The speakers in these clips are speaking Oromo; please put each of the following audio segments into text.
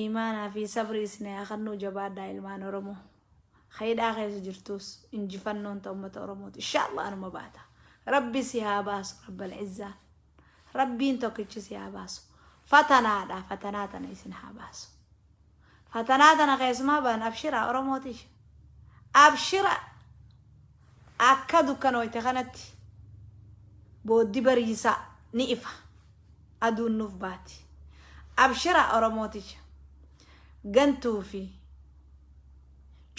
Iimaanaa fi sabrii isinii haa kennuu jabaadhaa ilmaan Oromoo. Ka hidhaa keessa jirtuus injifannoon ta ummata Oromooti. Inshaallah anuma baata. Rabbi si haa baasu Rabbal Izzaan. Rabbiin tokkichi si haa baasu. Fatanaadha fatanaa tana isin haa baasu. Fatanaa tana keessumaa baan abshiraa Oromoo tiyya. Abshira! Akka dukkanooyte kanatti booddi bariisaa ni ifa. Aduun nuuf baati. Abshira Oromoo tiyya. Gantuu fi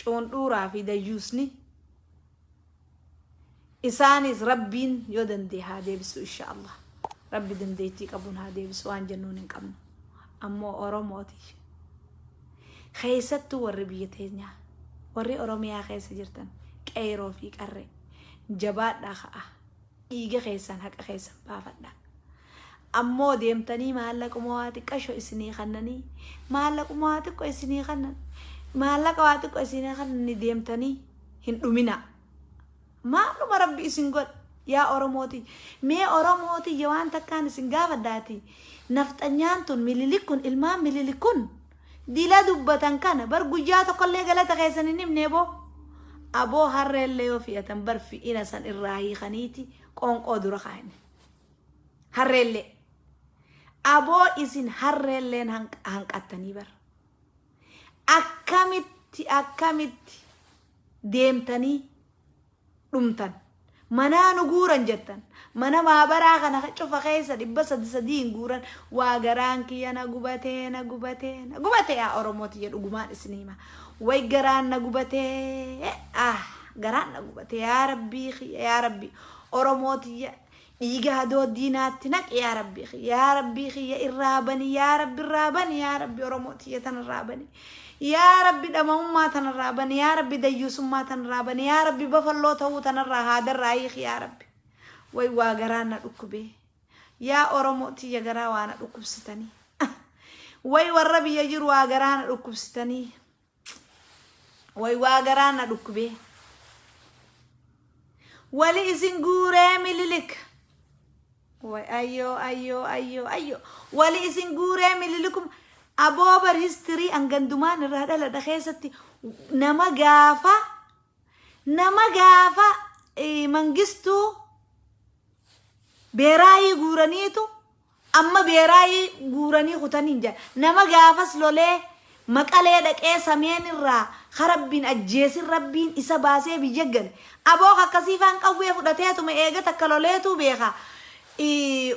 cuundhuuraa fi dayyuusni isaaniis Rabbiin yoo danda'e haa deebisu insha Allah. Rabbi dandeettii qabuun haa deebisu waan jennuun hin qabnu. Ammoo Oromoo tiyya. Keessattuu warri biyya teenyaa, warri Oromiyaa keessa jirtan, qeeyroo fi qarree, jabaadhaa ka'aa, dhiiga keessan, haqa keessan baafadhaa. Ammoo deemtanii maallaquma waa xiqqasho isinii kannanii, maallaquma waa xiqqo isinii kannan, maallaqa waa xiqqo isinii kannanii deemtanii hin dhuminaa. Maaluma rabbi isin godhe yaa oromoo tiyya mee oromoo tiyya waan takkaan isin gaafadha ati nafxanyaan tun mililik kun ilmaan mililik kun dila dubbatan kana bar guyyaa tokkollee galata keessan hin himne boo aboo harreellee yoo fi'atan bar fi'ina san irraa hiikaniiti qoonqoo dura kaa'inne harreellee aboo isin harreelleen hanq- hanqattanii bar akkamitti akkamitti deemtanii dhumtan. Manaa nu guuran jettan. Mana maabaraa kana cufa keessa dhibba sadi sadiin guuran. Waa garaan kiyya na gubatee na gubatee na gubatee yaa Oromoo tiyya dhugumaan isinii hima. Way garaan na gubatee ah garaan na gubatee yaa Rabbii kiyya yaa Rabbii Oromoo tiyya Dhiiga hadooddii naatti naqi yaa rabbii kiyya yaa rabbii kiyya irraa bani yaa rabbi irraa bani yaa rabbi oromoo tiyya tan irraa bani yaa rabbi dhama'ummaa tan irraa bani yaa rabbi dayyuusummaa tan irraa bani yaa rabbi bafalloo ta'uu tan irraa haadarraa hiiki yaa rabbi way waa garaa na dhukkubee yaa oromoo tiyya garaa waa na dhukkubsitanii way warra biyya jiru waa garaa na dhukkubsitanii Way waa garaa na dhukkubee. Wali isin guuree mililik. Way ayyoo ayyoo ayyoo ayyoo. Wali isin guuree mililikum. Aboobar history an gandumaan irraa dhaladha keessatti nama gaafa nama gaafa eh, mangistuu beeraayii guuraniitu Amma beeraayi guuranii kutaniin jira. Nama gaafas lolee Maqalee dhaqee Sameen irraa ka Rabbiin ajjeesin Rabbiin isa baasee biyya gale. Abo ka akkasii faan qawwee fudhateetuma eega takka loleetuu beeka.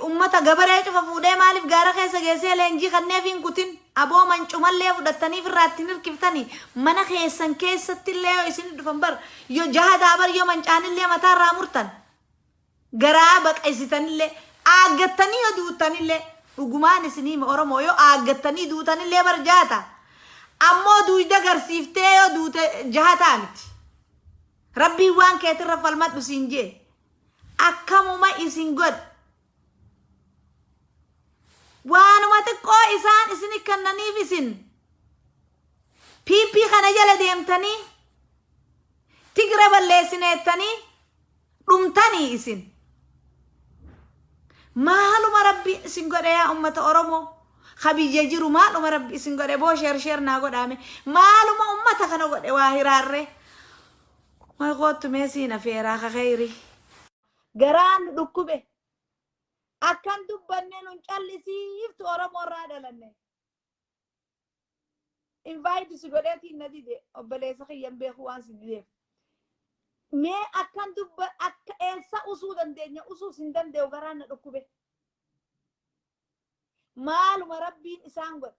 Ummata gabaree cufa fuudhee maaliif gaara keessa geessee leenjii kanneefii hin kutin. Abo mancumallee fudhattanii firraa itti hin hirkiftanii. Mana keessan keessattillee yoo isinii dhufan bar yo jahadaa bar yo mancaanillee mataa irraa murtan. Garaa baqaysitanillee, aaggattanii yoo duuttanillee, dhugumaan isinii hima Oromoo yoo aaggattanii duutanillee bar jaha taha. Ammoo duuyda garsiiftee yoo duute jaha taha miti. Rabbiin waan keetirra falmadhu siin je'e. Akkamuma isin godhe. Waanuma xiqqoo isaan isini kannaniif isin PP kana jala deemtanii Tigre balleessine jettanii dhumtanii isin maaluma rabbi isin godhe yaa ummata oromoo ka biyya jiru maaluma rabbi isin godhe boo sheer sheer naa godhaame maaluma ummata kana godhe waa hiraarree way koottu mee siin afeeraa ka keeyri garaan nu dhukkube akkan dubbanne nun callisiiftu oromoo irraa dhalanne invite si godheetiin na dide obboleessa kiyyan beeku waan si dideef mee akkan dubba akka eessa usuu dandeenya usuus hin danda'u garaan na dhukkube maaluma rabbiin isaan godhe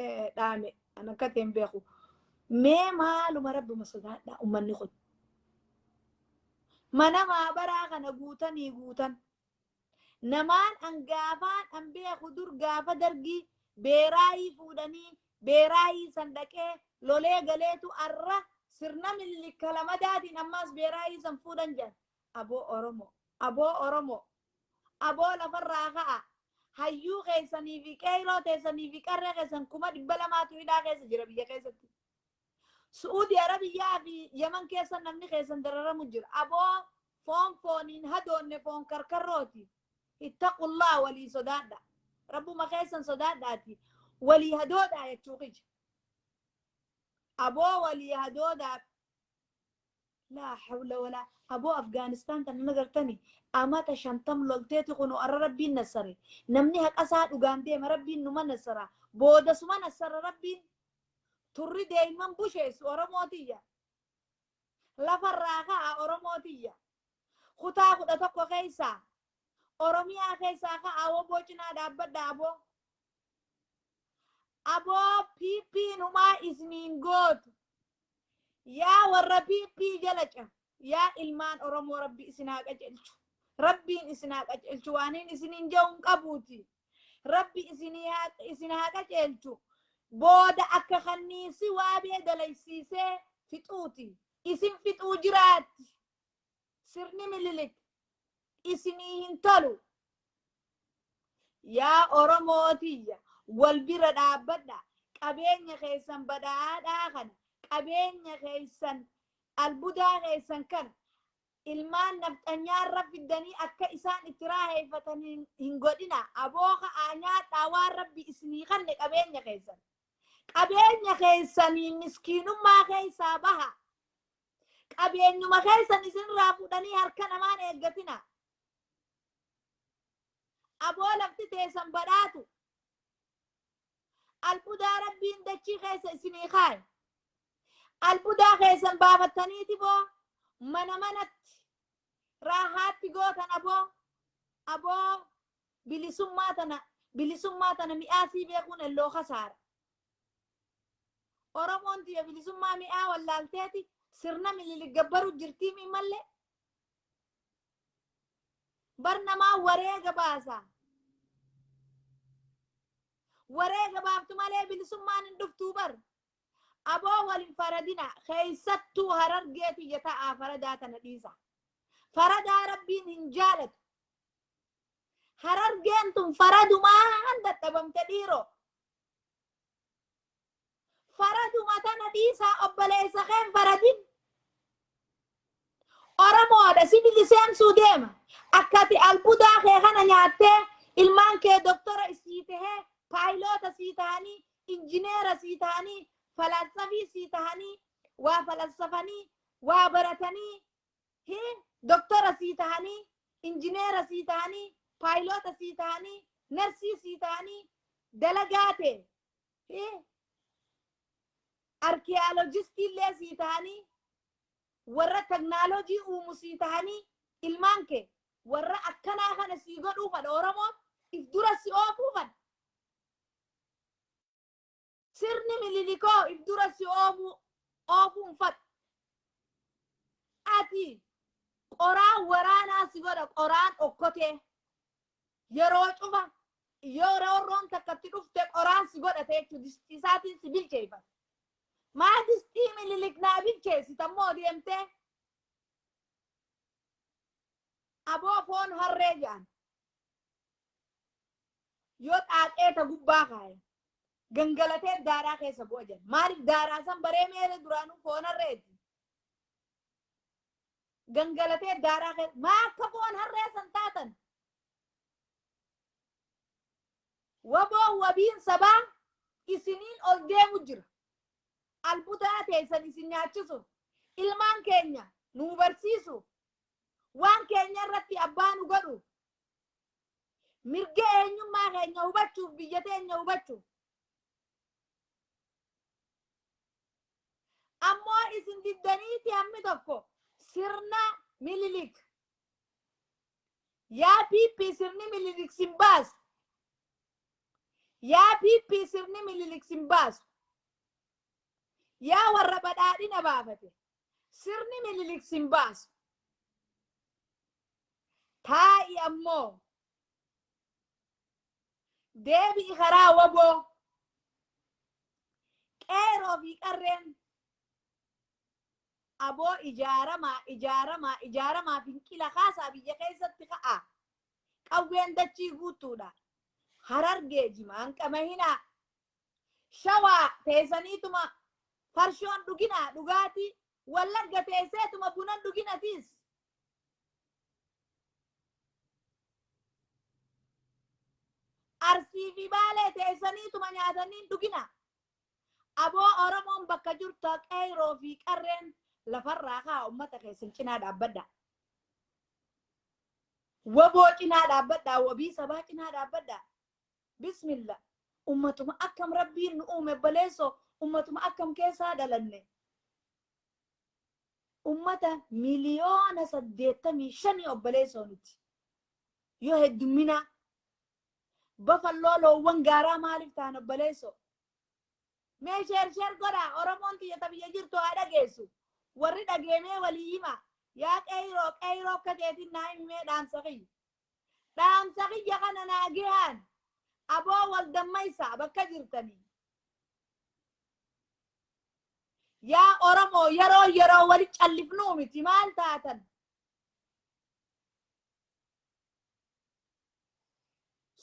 eh, dhaame an akka ta'e hin beeku mee maaluma rabbuma sodaadha ummanni kun mana maabaraa kana guutanii guutan namaan an gaafaan an beeku dur gaafa dargii beeraayii fuudhanii beeraayii san dhaqee lolee galeetu arra sirna millikka lamadaatiin ammaas beeraayii san fuudhan jedhan aboo oromoo aboo oromoo Aboo lafarraa ka'a. Hayyuu keessanii fi qeeyroo teessanii fi qarree keessan kuma dhibba lamaatu hidhaa keessa jira biyya keessatti. Su'uudi Arabiyyaa fi Yaman keessa namni keessan dararamu jira. Aboo foon fooniin hadoonne foon karkarrooti. Ittaqullaa walii sodaadha. Rabbuma keessan sodaadhaati. Walii hadoodhaa jechuu kiyya. Aboo walii hadoodaa laa hawla walaa aboo afgaanistaan tan hin agartani amata shantam lolteeti kunu arra rabbiin nassare namni haqasaa dhugaan deema rabbiin numa nassara booda suma nassara rabbiin turri deeyman busheessu oromootiyya lafarraa ka'a oromootiyya kutaa kudha tokko keessaa oromiyaa keessaa ka'a woboo cinaa dhaabbadha aboo Aboo piippiin humaa isniin gootu. Yaa warra piippii jala ca. Yaa ilmaan Oromoo rabbi isin haa qacelchu. Rabbiin isin haa qacelchu waaniin isiniin ja'uun qabuuti. Rabbi isinii haa isin haa qacelchu. Booda akka kanniisi waabee dalaysiisee fixuuti. Isin fixuu jiraatti. sirni mililik isinii hin tolu yaa oromoo tiyya wal bira dhaabbadha qabeenya keessan badhaadhaa kana qabeenya keessan albudaa keessan kana ilmaan nafxanyaarra fiddanii akka isaan itti raaheeffatan hin- hin godhina aboo ka'aa nyaadhaa waan rabbi isinii kanne qabeenya keessan qabeenya keessanii miskiinummaa keessaa baha Qabeenyuma keessan isinirraa fuudhanii harka namaan eeggatina. Aboo lafti teessan badhaatu. Albudaa rabbiin dachii keessa isinii kaaye. Albudaa keessan baafattaniiti boo mana manatti raahaatti gootan aboo aboo bilisummaa tana bilisummaa tana mi'aasii beekuun elloo kasaara. Oromoon tiyya bilisummaa mi'aa wallaalteeti sirna mililik gabbaru jirtii mii mallee bar namaa wareega baasa. Wareega baaftu malee bilisummaan hin dhuftuu bar. Aboo wal hin faradina keessattuu harargee tiyya ta'aa faradaa tana dhiisa. Faradaa rabbiin hin jaalatu. Harargeen tun faradumaan dadhabamte dhiiroo. Faraduma tana dhiisaa obboleessa keen faradin. Oromoodha si biliseemsuu deema. Akka ati albudaa kee kana nyaattee ilmaan kee doktora sii tahee paayiloota sii tahanii injineera sii tahanii falaassafii sii tahanii waa falaassafanii waa baratanii Hii, doktora sii tahanii, injineera sii tahanii, paayiloota sii tahanii, narsii sii tahanii, dalagaa tee, hii, arkiyaaloojistii illee sii tahanii, warra teknaaloojii uumu sii tahanii, ilmaan kee warra akkanaa kana sii godhuu fadha Oromoon, if dura si oofuu fadha. Sirni Mililikoo if dura si oomuu oofuun fadha. Ati qoraan waraanaa si godha qoraan okkotee. Yeroo cufa yoo roorroon takka itti dhufte qoraan si godhate jechuudha. Distii isaatiin si bilcheeffata. Maa distii Mililik naa bilcheessita immoo deemtee aboo foon harree jedhan. yoo xaaxee ta gubbaa kaaye gangalatee daaraa keessa bu'a jedha maaliif daaraa san baree meere duraanuu foonarreeti gangalatee daaraa keessa maa akka foon harree san taatan waboo wabiin sabaa isiniin ol deemu jira albutaa teessan isin nyaachisuuf ilmaan keenya nuu barsiisuuf waan keenya irratti abbaa nu godhu mirga eenyummaa keenya hubachuuf biyya teenya hubachuuf ammoo isin diddaniiti hammi tokko sirna mililik yaa piippii sirni mililik sin baasu yaa piippii sirni mililik sin baasu yaa warra badhaadhina baafate Sirni Minilik sin baasu. Taa'i ammoo. Deebi'i karaa waboo. Qeeroo fi qarreen. Aboo ijaaramaa ijaaramaa ijaaramaa finqila kaasaa biyya keessatti ka'a. Qawween dachii guutuudha. Harargee jimaan qamahinaa. Shawaa teesaniituma farshoon dhugina dhugaatii, Wallagga teesseetuma bunan dhugina tiis. Arsii fi Baalee teessaniituma nyaatanii hin dhugina. Aboo Oromoon bakka jirtu qeeyroo fi qarreen lafarraa kaa ummata keessan cinaa dhaabbadha. Waboo cinaa dhaabbadha, wabii sabaa cinaa dhaabbadha. Bismilla ummatuma akkam rabbiin nu uume obboleesso ummatuma akkam keessaa dhalanne ummata miliyoona saddeettamii shanii obboleessoo nuti yoo heddumminaa bafalloo loowwan gaaraa maaliif ta'an obboleessoo mee sheer sheer godhaa oromoon tiyya ta biyya jirtu haa dhageessu warri dhageemee walii himaa yaa qeeyroo qeeyroo akka keetiin naa himimee dhaamsa kiyya Dhaamsa kiyya kana naagehaan abo wal dammaysaa bakka jirtanii. Yaa Oromoo yeroo yeroo wali callifnuu miti maal taatan?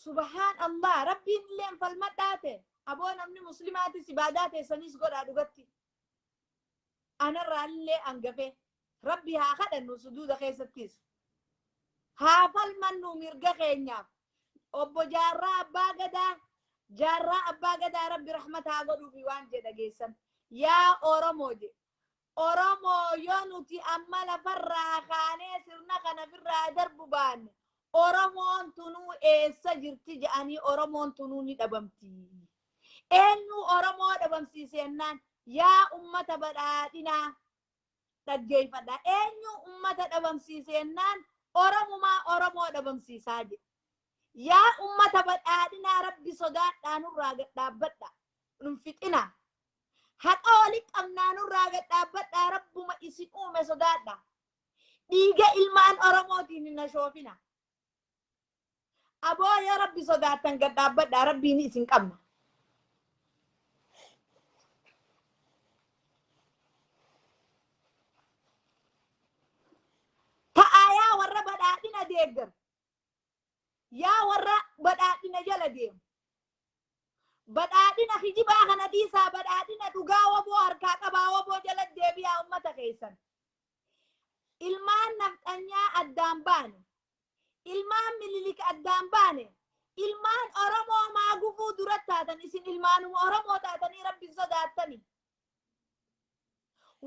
Subhaan Allah rabbiin illeen falmadhaa ta'e aboo namni muslimaatis ibaadaa teessaniis godhaa dhugatti. anarraallee hangafe rabbi haa kadhannu sujuuda keessattis haa falmannu mirga keenyaaf obbo jaarraa abbaa gadaa jaarraa abbaa gadaa rabbi rahmata haa godhuufi waan jedha geessan yaa oromoo je oromoo yoo nuti amma lafarraa kaanee sirna kana firraa darbu baanne oromoon tunuu eessa jirti jedhanii oromoon tunuu ni dhabamti Eenyuu Oromoo dhabamsiise jennaan yaa ummata badhaadhinaa dhaggeeffadha. Eenyuu ummata dhabamsiise jennaan Oromumaa Oromoo dhabamsiisaa jedhe. Yaa ummata badhaadhinaa rabbi sodaadhaa nurraa gad dhaabbadha. Nun fixinaa. Haqa walitti qabnaa nurraa gad dhaabbadhaa rabbuma isin uume sodaadha. Dhiiga ilmaan Oromootiin hin ashoofina. Aboo yoo rabbi sodaattan gad dhaabbadhaa rabbiin isin qabna. Ta'aa yaa warra badhaadhina deeggaru. Yaa warra badhaadhina jala deemu. Badhaadhina kijibaa kana dhiisaa badhaadhina dhugaa waboo harkaa qabaa waboo jala deebi'aa ummata keessan. Ilmaan nafxanyaa addaan baane. Ilmaan Minilik addaan baane. Ilmaan Oromoo maa gufuu dura taatan isin ilmaanuma Oromoo taatanii rabbi hin sodaattani.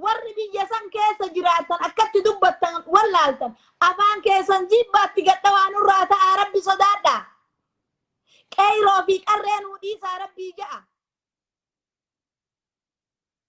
Warri biyya san keessa jiraattan akkatti dubbattan wallaaltan afaan keessan jibbaatti gadhawaa nurraa ta'aa rabbi sodaadhaa. Qeeyroo fi qarree nuu dhiisaa rabbii ja'a.